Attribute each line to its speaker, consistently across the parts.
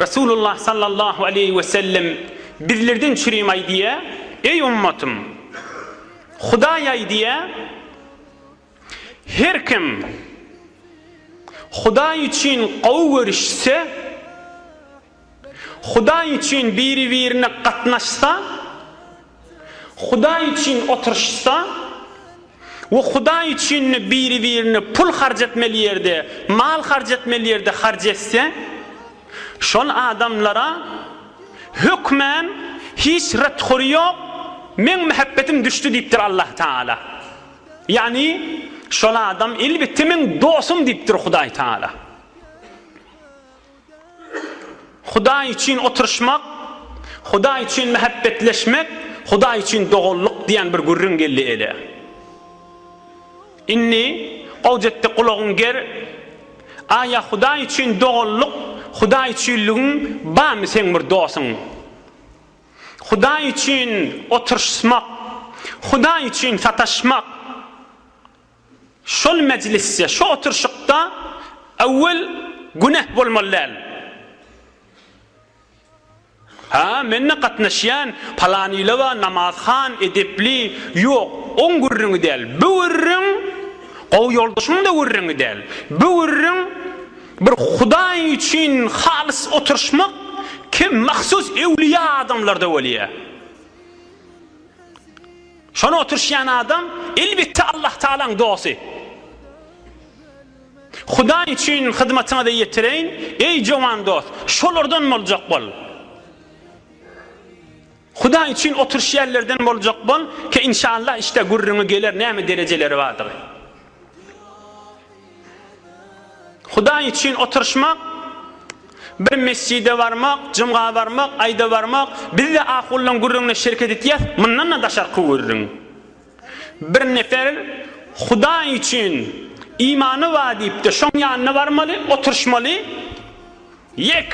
Speaker 1: Resulullah sallallahu aleýhi we sellem bizlerden çürim aýdýa, Eý ummatym! Hudaý aýdýa, Her kim Hudaý üçin gowy görüşse, Hudaý üçin biri-birine gatnaşsa, Hudaý üçin oturyşsa we Hudaý üçin-de biri-birine pul harç etmeli ýerde, mal harç etmeli ýerde harç etse, şol adamlara hökmän hiç ret-hory ýok, Meň mähebbetim düşdi diýipdir Allah Tagala. Ýagny, şol adam elbetde meň dostum diýipdir Hudaý Tagala. Hudaý üçin oturyşmak, Hudaý üçin mähäbbetleşmek, Hudaý üçin doganlyk diýen bir gürrüň geldi ele. Indi, Gojetde gulagyňy ger, Aýa Hudaý üçin doganlyk, Hudaý üçinligiň barmy seň bir dosuň? Hudaý üçin oturyşsmak, Hudaý üçin sataşmak. Şol mejlisde, şu oturşykda Awel günäh bolmaly däl. Ha, men-de gatnaşýan, palan ile-wa namazhan, edepli. Ýok, oň gürrüňi däl. Bu gürrüň, gowy ýoldaşyň-da gürrüňi däl. Bu gürrüň, bir Hudaý üçin halys oturşmak kim mahsus öwlüýä adamlarda bolýa. Şony oturyşýan adam elbetde Allahtagalaň dosty. Hudaý üçin hyzmatyňyzy ýetireýin, eý jowan dost, şolardan boljak bol. Hudaý üçin oturyşýanlerden boljak bol, ke inşallah işte gürrüňi geler näme derejeleri bardygy. Hudaý üçin oturyşmak, bir mesjide barmak, jumga barmak, aýda barmak, biz-de ahullaň gürrüňine şereket etýäs, mundan-da daşarky gürrüň. Bir nefer Hudaý üçin imany bar diýip-de şoň ýanyna barmaly, oturyşmaly? Ýek!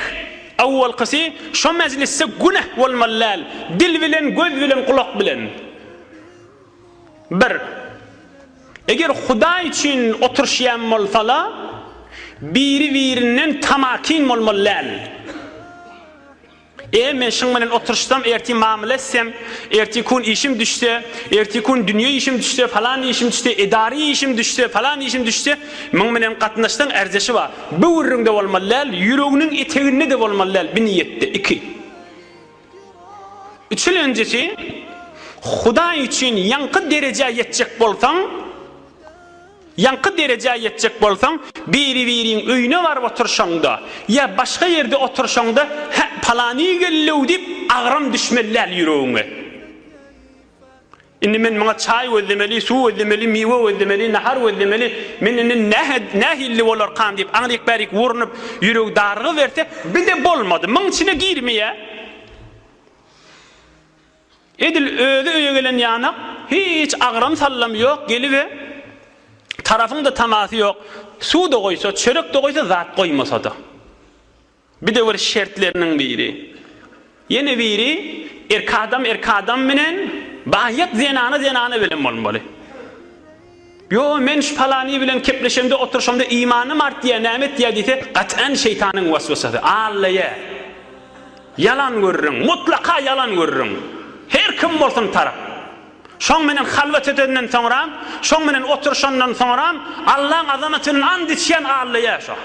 Speaker 1: Owalkysy şo mejlisde günäh bolmaly däl, dil bilen, göz bilen, gulak bilen. Bir. Eger Hudaý üçin oturyşýan bolsalar, biri-birinden tamakin bolmaly däl. E, men şyň bilen oturyşsam, ertir mamla etsem, ertir kun işim düşse, ertir kun dünýe işim düşse, falan işim düşse, edari işim düşse, falan işim düşse, muň bilen gatnaşsaň ärjeşi bar. Böwrüňde bolmaly däl, ýüreginiň eteginde-de bolmaly däl, biniýetde. Iki. Üçülenjisi, Hudaý üçin ýaňky derejä ýetjek bolsaň, ýaňky derejä ýetjek bolsaň, biri-biriň öýüne baryp oturyşaňda ýa başga ýerde oturyşaňda, Hä, palany geldi-ow diýip, agram düşmeli däl ýüregiňe. Indi men muňa çaý gözlemeli, suw gözlemeli, miwe gözlemeli, nahar gözlemeli, men indi nähe, nähilli bolarkam diýip, aňryk-bärik urnup, ýüregi darygyberte, bir-de bolmady, muň içine girmeýä. Edil özi öýe gelen ýanak, hiç agram-sallam ýok, gelibe, tarapyň-da tamasy ýok, suw-da goýsa, çörek-de goýsa, zat goýmasa-da. Bidewr şertleriniň biri. Ýene biri, erk adam erk adam bilen, baýat zenana zenana bilen bolmaly. Ýo, men şu palany bilen kepleşemde, oturyşamda imanym artýar, näme etýär diýse, gat'an şeýtanyň waswasasy. Allaýa. Ýalan görüriň. Mutlaka ýalan görüriň. Her kim bolsun tarap. Şoň bilen halwat edenden soňram, şoň bilen oturyşandan soňram, Allaň azamaty bilen and içýän allaýa şo.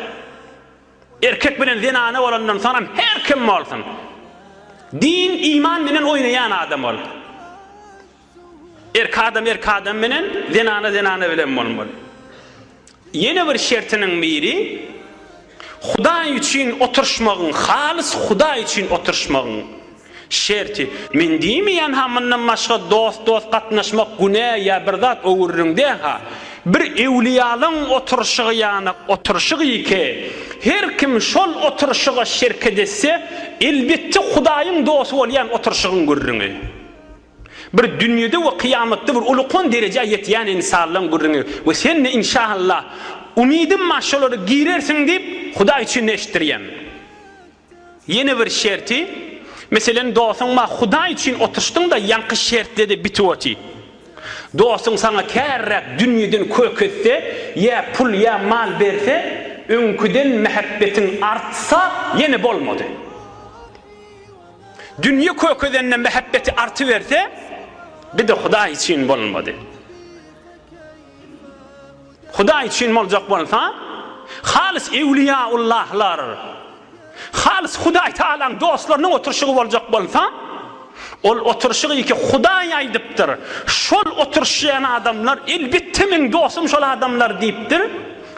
Speaker 1: Erkek bilen zenana bolandan soňam her kim bolsun din iman bilen oýnaýan adam ol. Erki adam erki adam bilen zenana zenana bilen bolmaly. Ýene bir şertiniň biri Hudaý üçin oturşmagyň halys Hudaý üçin oturşmagyň. Şerti, Men diýmeýän-ha mundan başga dost-dost gatnaşmak günä ýa bir zat öwürüriň dä-ha. Bir ewliýalaň oturyşygy ýanak oturyşyk ýeke. Her kim şol oturyşyga şerket etse, elbetde Hudaýyň dosty bolýan oturyşygyň gürrüňi. Bir dünýede we kyýamatda bir ulukan derejä ýetýän ynsanlaň gürrüňi we sen-de inşaallah, umydym bar şolara girersiň diýip, Hudaý üçin eşitdirýän. Ýene bir şerti, meselen, dostuň maňa Hudaý üçin oturşdyň-da, ýaňky şertde-de bitip oty. Dostuň saňa käriräk dünýeden kök etse, ýa pul, ýa mal berse, öňküden mähebbetiň artsa, ýene bolmady. Dünýe kök edende mähebbeti artyberse, bir-de Hudaý üçin bolmady. Hudaý üçin boljak bolsa, halys ewliýaullahlar, halys Hudaý Tagalaň dostlarynyň oturyşygy boljak bolsa, ol oturyşygy iki Hudaý aýdypdyr, şol oturyşýan adamlar, elbetde meň dostum şol adamlar diýipdir,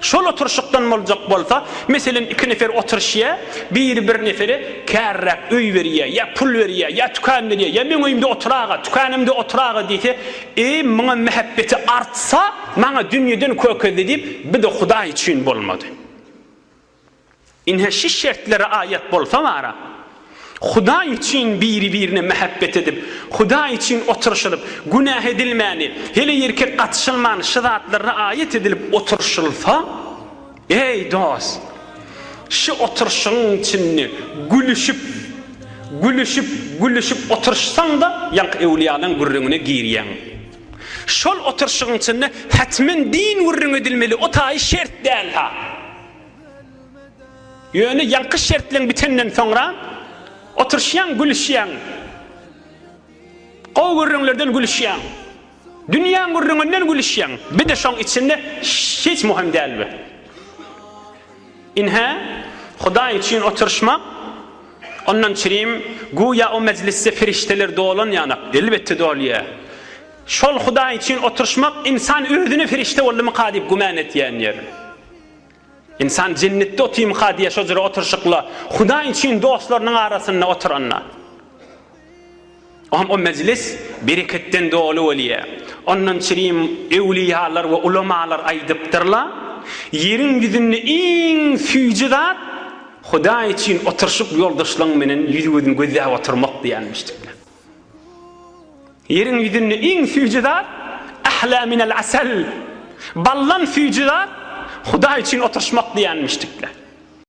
Speaker 1: şol oturyşykdan boljak bolsa, meselem iki nefer oturyşýar, biri bir nefere kärräk öý berýär, ýa pul berýär, ýa tükän berýär, ýa meň öýümde otur aga, tükänimde otur aga diýse, Eý, maňa mähebbeti artsa, maňa dünýeden kökezdi diýip, bir-de Hudaý üçin bolmady. Ine, şu şertlere aýat bolsa bara, Hudaý üçin biri-birine mähebbet edip, Hudaý üçin oturyşylyp, günä edilmäni, heleýerkek gatyşylmany şu zatlarda aýat edilip oturyşylsa, Eý, dost! Şu oturşyň içinde gülüşip, gülüşip, gülüşip oturşsaň-da, ýaňky öwlüýalaň gürrüňine girýäň. Şol oturşyň içinde hetmen din gürrüňi edilmeli, o taýy şert däl-hä. Ýöne ýaňky şertleň bitenden soňra oturşýaň, gülüşýäň. Gowy gürrüňlerden gülüşýäň. Dünýäň gürrüňinden gülüşýäň, bir-de şoň içinde hiç muhym däl bu. Ynha, Hudaý üçin oturyşmak, ondan çirim, güýä o mejlisde perişdeler dolan ýanak, elbetde dolýa. Şol Hudaý üçin oturyşmak, ynsan özüne perişde boldumyka diýip gümän etýän ýer. Ynsan jennetde otymyka diýýär şo jyry oturşykla Hudaý üçin dostlarynyň arasynda oturanda. Oňa o mejlis bereketden doly bolýar. Ondan çirim öwliýalar we ulamalar aýdypdyrlar, Ýeriň ýüzünde iň süýji zat Hudaý üçin oturşyk ýoldaşlaň menen ýüz-gözin gözläp oturmak diýenmişdirler. Ýeriň ýüzünde iň süýji zat, Ahla minel asal, baldan süýji zat, Hudaý üçin oturyşmak diýýänmişdikler.